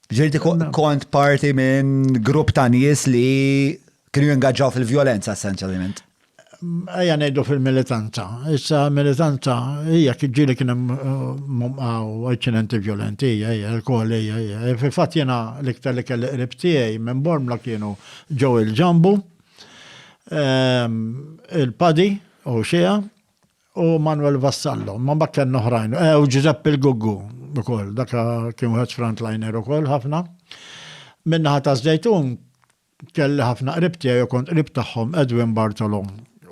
Ġirti kont parti minn grupp ta' nies li kienu jingaġġaw fil-vjolenza essenzjalment. Ejja ngħidu fil-militanza. Issa militanza hija ġieli kien hemm uh, inċidenti vjolenti, hija l-kol hija hija. E, fil-fatt jiena l-iktar li kelli qrib tiegħi minn Bormla kienu ġew il-ġambu, ehm, il-padi u xija, u Manuel Vassallo, ma ma kien oħrajn, eh, u Giuseppe il-Guggu, ukoll, dak kien wieħed frontliner ukoll ħafna. Minnaħa ta' Zdejtun kelli ħafna qrib tiegħi u kont qrib tagħhom Edwin Bartolo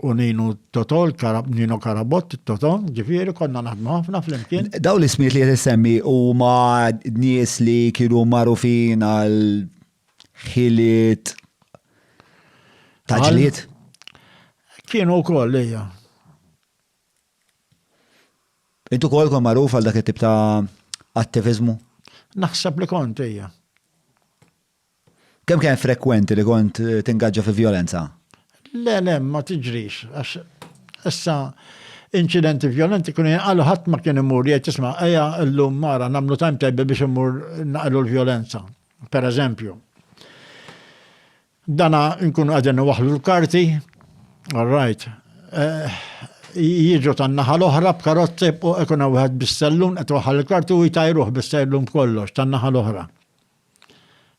u Nino Totol, Nino Karabott, Toto, ġifieri konna naħdmu ħafna flimkien. Daw l-ismiet li qed issemmi huma nies li kienu magħrufin għal ħiliet ta' ġlied. Kienu wkoll lejja. Intu kol kon magħruf għal dak it-tip ta' attivizmu? Naħseb li kont hija. Kemm kien frekwenti li kont eh, tingaġġa fi violenza? Le, le, ma tiġrix, għax issa incidenti violenti kun għallu ħadd ma kien imur jgħid isma' ejja llum mara nagħmlu timetable biex imur naqlu l-violenza. Per eżempju, dana nkunu qegħdin niwaħlu l-karti, all right, eh, jiġu tan-naħa l-oħra b'karozzi u ikun wieħed bis-sellun qed waħal il-karti u jtajruh bis-sellun kollox tan-naħa l-oħra.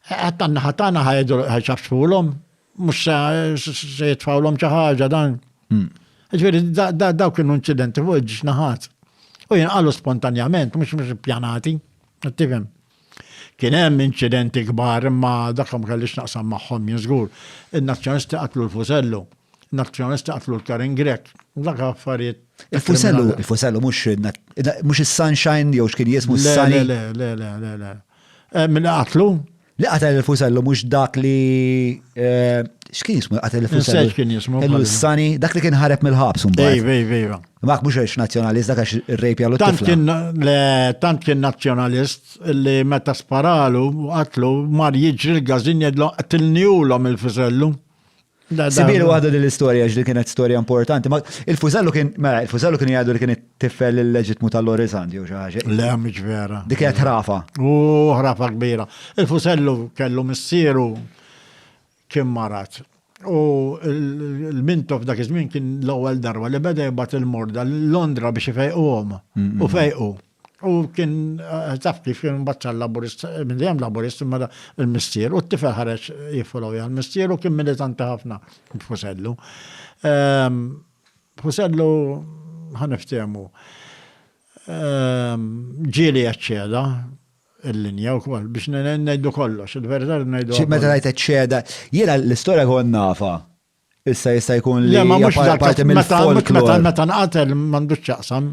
Qed tan-naħa tagħna ħajdu ħaxafsfulhom, mhux se jitfawlhom xi ħaġa dan. Hmm. Ġifieri dawk kienu inċidenti fuq ġnaħat. U jinqalu spontanjament, mhux mhux pjanati, tifhem. Kien hemm inċidenti kbar imma dak ma kellix naqsam magħhom jien żgur. In-Nazzjonalisti qatlu l-Fusellu. In-Nazzjonalisti qatlu l-Karen Grech. Dak affarijiet. Il-Fusellu, il-Fusellu mhux mhux is-Sunshine jew x'kien jismu s-Sunny. Le, le, le, le, le. Eh, Min qatlu? Li qatel il-Fusellu mhux dak li eh, x'kien jismu qatel il-Fusellu? Kien jismu. Kellu s-Sunny, dak li kien ħareb mill-ħabs mbagħad. Ej, ej, ej. Mak mhux għax nazzjonalist dak għax ir-rejp jagħlu tifla. Le, tant kien nazzjonalist li meta sparalu qatlu mar jiġri l-gażin jgħidlu qtilni ulhom il-fisellu. Sibiru għadu din l-istorja ġdi kienet storja importanti. Il-fużellu kien, mela, il-fużellu kien jgħadu li kien tifel il-leġitmu tal-Lorizandi u xaħġa. Le, mhux vera. Dik kienet ħrafa. U ħrafa kbira. Il-fużellu kellu missieru Kien marad. U l-Mintoff dak iż-żmien kien l-ewwel darba li beda jibgħat il-morda Londra biex ifejquhom. U fejqu. U kien eh, taf kif kien mbagħad laburist, minn dejjem laburist imma l-missier u t-tifel ħareġ jiffollow jgħal missier u kien militanti ħafna b'Fusellu. Ehm, Fusellu ħaniftehmu. Ehm, ġieli eċċeda, il-linja wkoll biex ngħidu kollox, il-verità rridu ngħiduha. Xi meta tgħid eċċeda, jiena l-istorja kont nafha. Issa jista' jkun li ma mhux parti mill-folklor. Meta nqatel m'għandux x'jaqsam,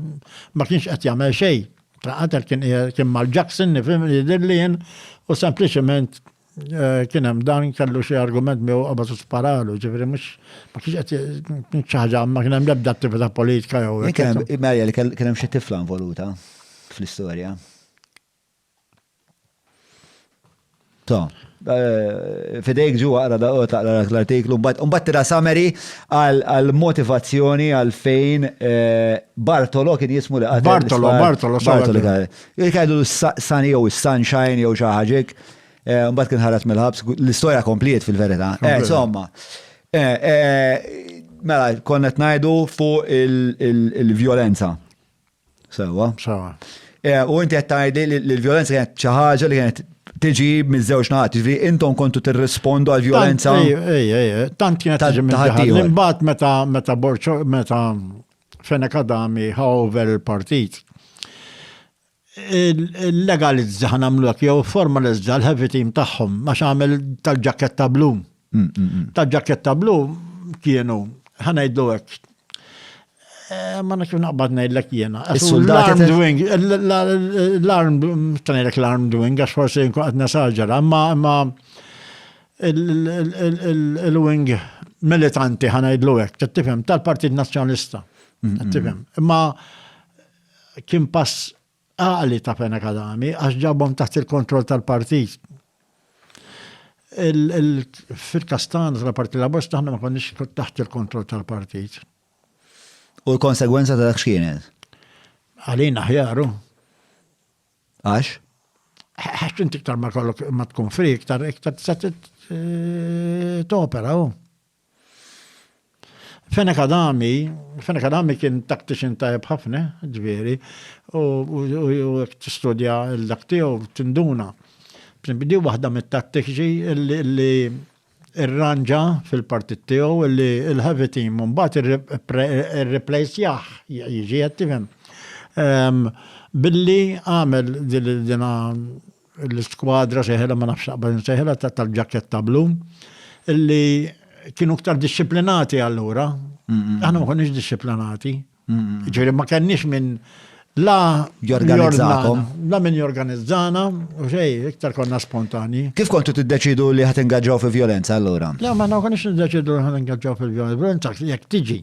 ma kienx qed jagħmel xejn. Nqatel kien kien mal-Jackson nifhem jidhirli jien u sempliċement Eh, kien hemm dan kellu xi argument miegħu qabad u sparalu, ġifieri mhux ma kienx qed xi ħaġa ma kien hemm l-ebda attività politika jew. Kien hemm Marja li kien hemm xi tifla involuta fl-istorja. To, eh, fidejk ġu għara da taqra l-artiklu, mbagħad tira summary għal motivazzjoni għal fejn eh, Bartolo kien jismu li Bartolo, Bartolo, Bartolo. Il-kajdu Sani jew Sunshine jew xi ħaġa. Eh, mbagħad kien ħareġ mill-ħabs, l-istorja kompliet fil-verità. Eh, insomma, eh, mela, konnet najdu fuq il-violenza. Sewa. Sewa. U inti qed tgħidli li l-violenza kienet xi ħaġa li kienet tiġi miż-żewġ naħat, ġifieri intom kontu tirrispondu għal violenza. Ej, ej, tant kienet tiġi mill Imbagħad meta meta Borċo meta Fenekadami ħaw over il-partit. Illegalizza ħa nagħmlu hekk jew formalizza l-heavy team tagħhom għax għamel tal-ġaketta blu. Tal-ġaketta blu kienu ħa ngħidlu hekk Eh, ma nafx naqbad ngħidlek jiena. L-armed wing, l-armed, ngħidlek l-armed wing, għax forsi nkun qed nesaġera, imma imma il-wing militanti ħana jidlu hekk, tifhem tal-Partit Nazzjonalista. Tifhem. Imma Kien pass għaqli ta' Fenech Adami għax ġabhom taħt il-kontroll tal-partit. Fil-każ tagħna tal-Partit Laburista aħna ma konniex taħt il-kontroll tal-partit. U l-konsegwenza ta' dak x'kienet? Għalina ħjaru. Għax? Għax inti iktar ma kollok ma tkun fri, iktar iktar t-opera. Fene Kadami, Fene Kadami kien tactician tajb ħafna, ġveri, u t-studja l-dak tiegħu tinduna. Di waħda mit-tattiċi li irranġa fil-partit tiegħu li l-heavy team mbagħad irreplacjah jiġi qed tifhem. Billi għamel dina l-iskwadra sejħilha ma nafx naqbad insejħilha tal-ġaketta blu illi kienu ktar dixxiplinati allura. Aħna ma konniex dixxiplinati. Ġifieri ma kenniex minn la jorganizzakom. La minn jorganizzana, u xej, iktar konna spontani. Kif kontu tiddeċidu li ħat ingaġġaw fi violenza allura? Le, ma konniex niddeċidu li ħat ingaġġaw fi violenza, jekk tiġi.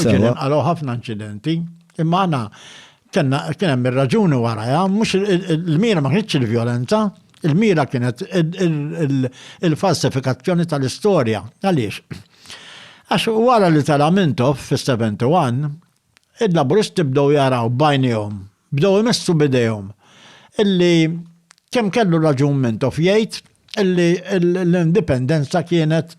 Ġieli Sewa. nqalgħu ħafna inċidenti, imma għana kena kien hemm ir-raġuni warajha, mhux il-mira ma kienx il-vjolenza, il-mira kienet il- il- il- il-falsifikazzjoni tal-istorja. Għaliex? Għax wara li tela' Mintoff fis-71, il-Laburisti bdew jaraw b'għajnejhom, bdew imessu b'idejhom illi kemm kellu raġun Mintoff jgħid illi l-indipendenza kienet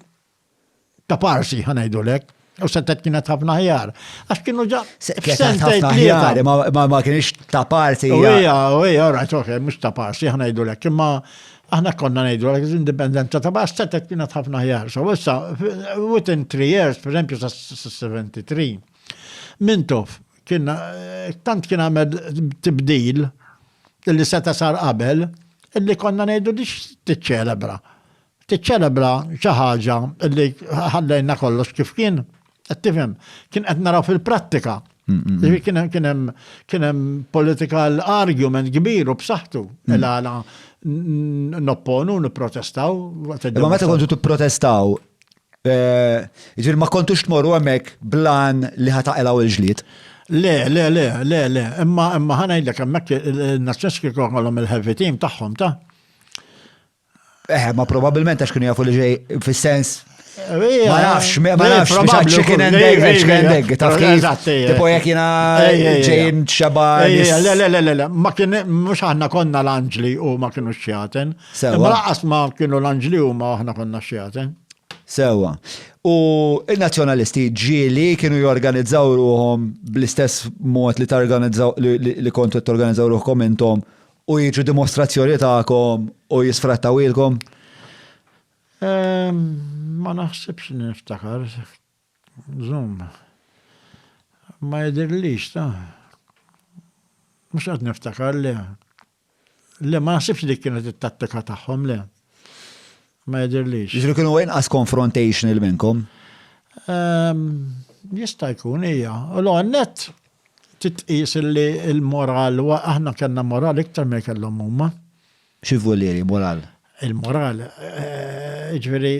ta' parsi ħanajdulek, u sentet kienet ħafna ħjar. Għax kienu ġa. Kienet ħafna ħjar, ma kienx ta' parsi. U hija, u hija, ora, ċoħe, mux ta' parsi ħanajdulek, imma aħna konna ngħidu għal indipendenza ta' bas setet kienet ħafna ħjar. So issa within three years, per esempio sa 73, Mintof kien tant kien għamel tibdil li seta sar qabel illi konna ngħidu dix tiċċelebra. tiċċelebra xi ħaġa li ħallejna kollox kif kien, qed tifhem, kien qed naraw fil-prattika. Kien hemm political argument kbir u b'saħħtu il-għala nopponu, nipprotestaw. Ma meta kontu tipprotestaw, eh, ġir ma kontux tmorru hemmhekk blan li ħataqilgħu il-ġlied. Le, le, le, le, le, imma imma ħanajdlek hemmhekk il-Nazzjonski kollhom il-heavy team tagħhom ta' Eħe, ma probabilment għax kienu jafu li ġej fis-sens. Ma nafx, ma nafx, ma nafx, chicken and egg, chicken and egg, taf kif. Tipo jek jina ġejn xeba. Le, le, le, le, le, ma kien, mux aħna konna l-anġli u ma kienu xjaten. Ma laqas ma kienu l-anġli u ma aħna konna xjaten. Sewa. U il-nazjonalisti ġili kienu jorganizzaw ruħom bl-istess mod li targanizzaw li kontu t-organizzaw ruħkom intom U jiġu dimostrazzjoni tagħkom u jisfrattawilkom? Ma naħsibx niftakar. Zoom. Ma jidirlix ta' mhux qed niftakar le. Le ma naħsibx li kienet it-tattika tagħhom le. Ma jidhirlix. Jiġifieri kienu inqas confrontational minnkom? Jista' jkun hija. U l-ewwel nett titqies li l-moral u aħna kellna moral iktar milli kellhom huma. Xi volieri moral? Il-moral, jiġifieri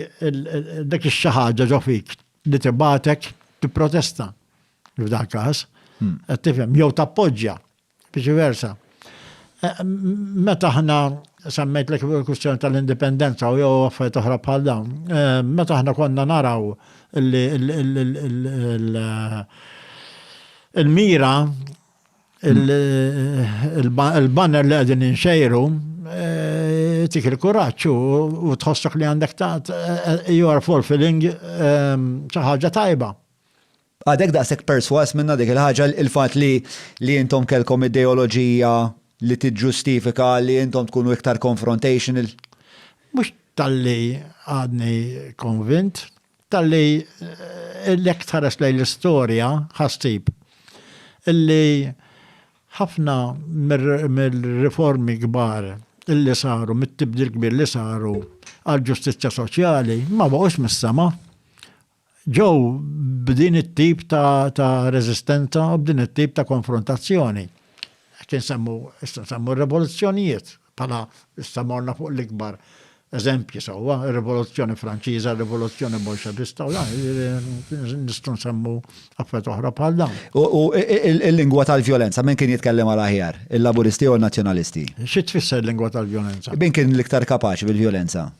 dik ix-xi ħaġa ġo fik li tibgħatek tipprotesta f'dan każ. Qed tifhem? Jew tappoġġja. Viċi versa. Meta aħna semmejtlek il-kwistjoni tal-indipendenza u jew affarijiet oħra bħal dawn, meta aħna konna naraw li il-mira il-banner li qegħdin inxejru tik il-kuraġġ u tħossok li għandek ta' you are fulfilling xi ħaġa tajba. Għadek daqshekk persważ minnha dik il-ħaġa, il-fatt li li intom kellkom ideoloġija li tiġġustifika li intom tkunu iktar confrontational? Mhux talli għadni konvint, talli jekk tħares lejn l-istorja ħa ssib illi ħafna mir-riformi kbar illi saru, mit-tibdil kbir li saru għall-ġustizzja soċjali ma baqgħux mis-sema. Ġew b'din it-tip ta' reżistenza u b'din it-tip ta' konfrontazzjoni. Qed insemmu, issa nsemmu r-rivoluzzjonijiet bħala issa morna fuq l-ikbar eżempji sewwa, ir-Rivoluzzjoni Franċiża, r-Rivoluzzjoni Bolxevista u dan, nistgħu nsemmu affarijiet oħra bħal dawn. U l-lingwa tal-vjolenza, min kien jitkellem għal aħjar, il-Laburisti jew in-Nazzjonalisti? Xi tfisser lingwa tal-vjolenza? Min kien l-iktar kapaċi bil-vjolenza?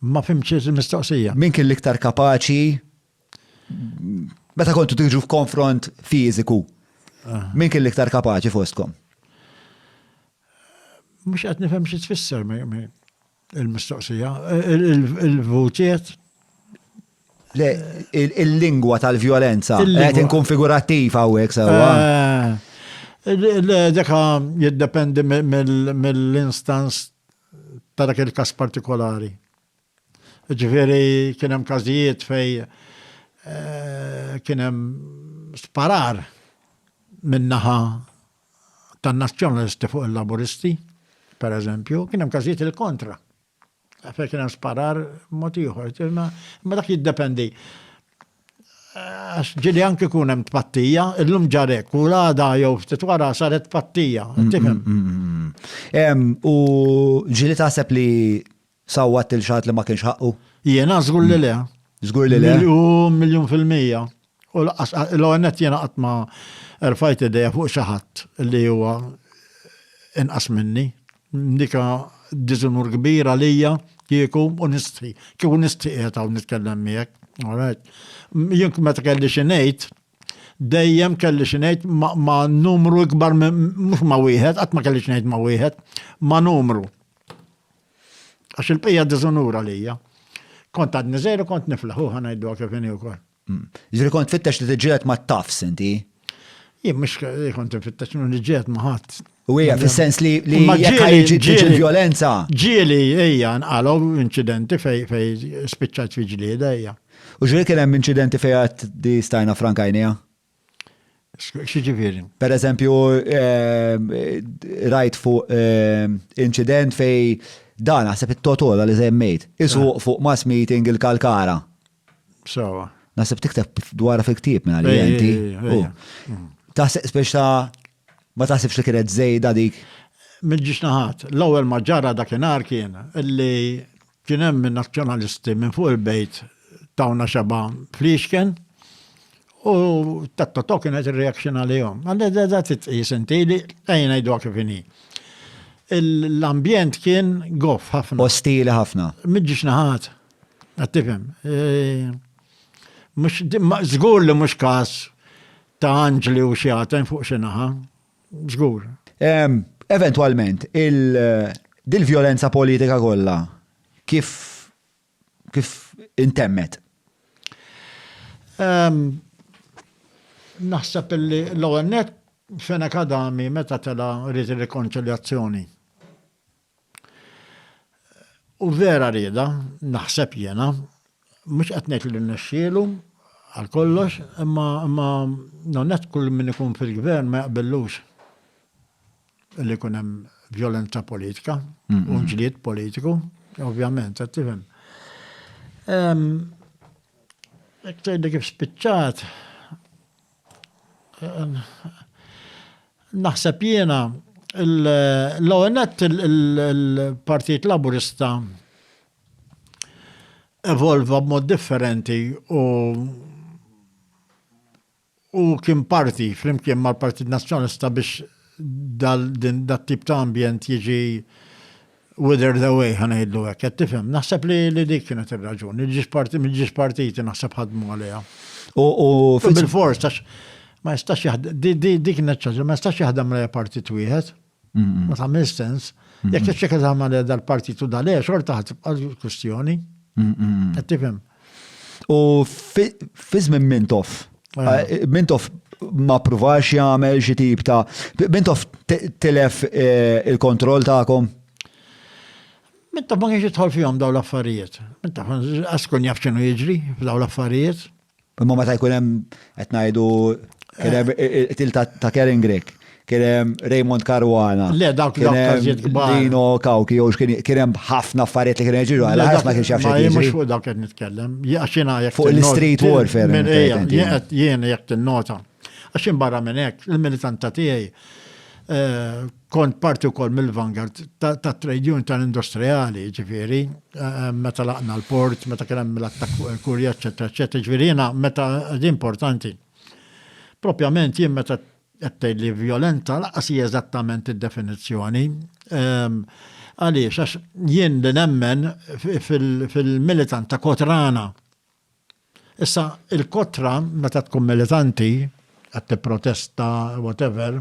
Ma fimtx il-mistoqsija. Min kien l-iktar kapaċi meta kontu tiġu f'konfront fiżiku? Min kien l-iktar kapaċi fostkom? Mhux qed nifhem xi tfisser il-mistoqsija. Il-vutiet Le, il-lingwa tal-violenza, qed inkun figurattiv hawnhekk sewwa. Eh, Deka jiddependi mill-instance ta' dak il-każ partikolari. Ġifieri kien hemm każijiet fej eh, kien hemm sparar min-naħa tan-nazzjonalisti fuq il-laburisti, per eżempju, kien hemm każijiet il-kontra. Fej kien hemm sparar mod ieħor, imma dak jiddependi. Għax ġieli anki jkun hemm tpattija, illum ġar hekk u l-għada jew ftit wara saret tpattija, tifhem? U ġieli taħseb li sawwat il xaħat li ma kienx ħaqqu? Jiena żgur li le. Żgur li le. Miljun, miljun fil-mija. U l-għonet jiena qatt ma rfajt idea fuq xi ħadd li huwa inqas minni. Dika diżunur kbir għalija kieku u nistħi. Kieku nistħi qiegħed hawn nitkellem miegħek. Alright. Jien meta kelli xi ngħid, dejjem kelli xi ngħid ma' numru ikbar mhux ma' wieħed, qatt ma kelli xi ngħid ma' wieħed, ma' numru. Għax il-bqija diżunur għalija. Kont għadni żejru kont niflaħu ħanajdu kif inhi wkoll. Ġifieri kont tfittex li tiġġieled mat-tafs inti? Jien mhux kont nfittex li niġġieled ma' ħadd. U hija fis-sens li li ġieli violenza. Ġieli hija nqalgħu inċidenti fej fej spiċċat fi ġlieda hija. U ġieli kien hemm inċidenti fejn għad di stajna frankajnija? X'jiġifieri? Per eżempju, rajt fuq inċident fejn dan naħseb it-totola li żemmejt, isuq fuq mass meeting il-kalkara. Sawa. Naħseb tikteb dwar fil-ktieb minn għalli inti. Taħseb biex ta' ma taħsibx li kienet żejda dik? Mill-ġiex naħat, l-ewwel ma ġara dakinhar kien li Kien hemm in-Nazzjonalisti minn fuq il-bejt tawna xebgħa fliexken u tat-totò kienet ir-reaction għalihom. Da titqis inti li ejja ngħiduha kif inhi. L-ambjent kien goff ħafna. Ostili ħafna. Miġiex naħat. Qed tifhem. Żgur li mhux każ ta' anġli u xjaten fuq xi naħa. Żgur. Eventwalment, dil-vjolenza politika kollha kif kif intemmet? Naħseb li l-ewwel nett Fenech Adami meta tela' ried ir-rikonċiljazzjoni. U vera rieda, naħseb jiena, mhux qed ngħid li rnexxielu għal kollox, imma imma nonnet kull min ikun fil-gvern ma jaqbillux li jkun hemm violenza politika u ġlied politiku, ovvjament, qed tifhem. Jekk tgħidli kif spiċċat, Naħseb jiena l-ONET il-Partit Laburista evolva b'mod differenti u u kien parti flimkien mal-Partit Nazzjonalista biex dat-tip ta' ambjent jiġi wither the way ħa ngħidlu hekk, qed tifhem. Naħseb li li dik kienet ir-raġuni, il-ġiex partiti naħseb ħadmu għaliha. U bil-fors tax ma jistax jaħdem, dik kienet ċaġa, ma jistax jaħdem għaliha partit wieħed. Ma tagħmel sens. Jekk ċekka tagħmel dal-partitu dal-e, xorta ħad tibqa' l-kwistjoni. Qed tifhem. U fi żmien Mintoff, Mintoff ma provax jagħmel xi tip ta' Mintoff tilef eh, il-kontroll tagħkom? Mintoff ma kienx jidħol fihom daw l-affarijiet. Mintoff għaskun jaf x'inhu jiġri f'daw l-affarijiet. Imma meta jkun hemm qed ngħidu kien hemm eh. eh, til ta' Karen Grek kien hemm Raymond Caruana. Le, dawk kien hemm Dino Kawki, jew kien hemm ħafna affarijiet li kien jiġri għal ħadd ma kienx jaf xejn. Ma mhux fuq dawk qed nitkellem, jaxina jekk. Fuq l-street warfare. Jien jekk tinnota. Għax barra minn hekk, il-militanta tiegħi eh, kont parti wkoll mill-vanguard ta' trade union tal-industrijali, ġifieri, eh, meta laqna l-port, meta kien hemm l-attakk fuq il-kurja, eċetera, eċetera, ġifieri jiena meta importanti. Propjament jien meta Appelli vjolenta lanqas hi eżattament id-definizzjoni. Għaliex? Għax jien li nemmen fil-militant ta' kotrana. Issa, il-kotra, meta tkun militanti, qed tipprotesta, whatever,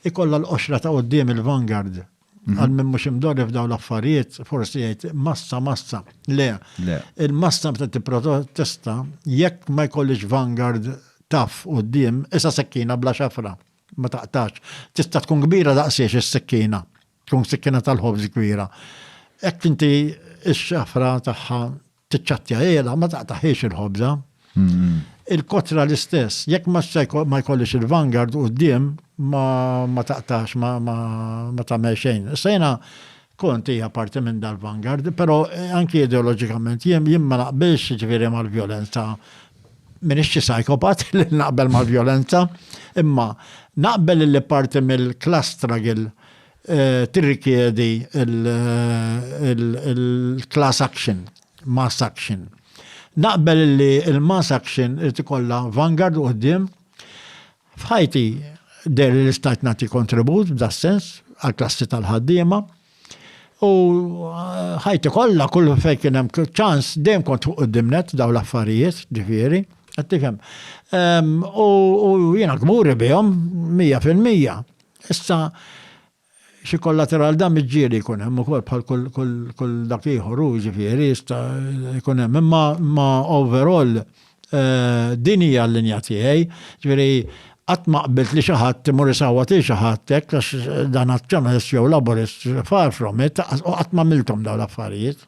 ikollha l-qoxra ta' quddiem il-vanguard. Mhm. Għal minn mux imdorri f'daw l-affarijiet, forsi jgħid massa, massa. Le, il-massa meta t-protesta, jekk ma jkollix vanguard taf u d-dim, issa sekkina bla xafra, ma taqtax. Tista tkun kbira daqsiex is-sekkina, tkun sekkina tal-ħobż kbira. Jekk inti x-xafra tagħha Tiċċattja għela, ma taqtaħiex il-ħobża. Il-kotra l-istess, jekk ma jkollix il-vanguard u d-dim, ma taqtax, ma tamel xejn. Sejna kont hija parti minn dal-vanguard, pero eh, anki ideologikament jien jien ma naqbilx ġifieri mal-vjolenza. Minix xi psychopat li naqbel mal-vjolenza, imma naqbel li parti mill-klastragil tirrikjedi l-class action, mass action. Naqbel li l-mass action irid ikollha vanguard u qudiem. F'ħajti der li l-istat nagħti kontribut f'da sens għall-klassi tal-ħaddiema. U ħajti kollha kull fejn kien hemm ċans dejjem kont fuq qudiem net daw l-affarijiet, ġifieri, qed tifhem. U jiena kburi bihom 100%. Issa, xi kollateral da miġġieli jkun hemm ukoll bħal kull dak ieħor hu ġifieri jista' jkun hemm. Imma ma overall eh, din hija l-linja tiegħi, ġifieri qatt ma qbilt li xi ħadd imur isawwat lil xi ħadd hekk għax dan Nazzjonalist jew Laburist, far from it, u qatt ma għamilthom dawn l-affarijiet.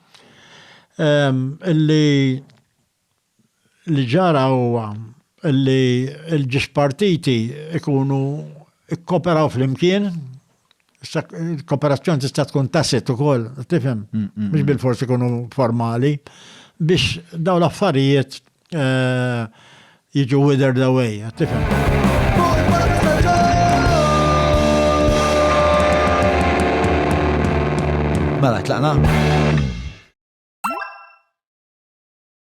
Illi li ġara huwa illi l-ġiex partiti ikunu ikkoperaw flimkien, kooperazzjoni tista' tkun tasit ukoll, tifhem, mhux bil-fors ikunu formali, biex daw l-affarijiet jiġu withered away, tifhem. Mela, tlaqna?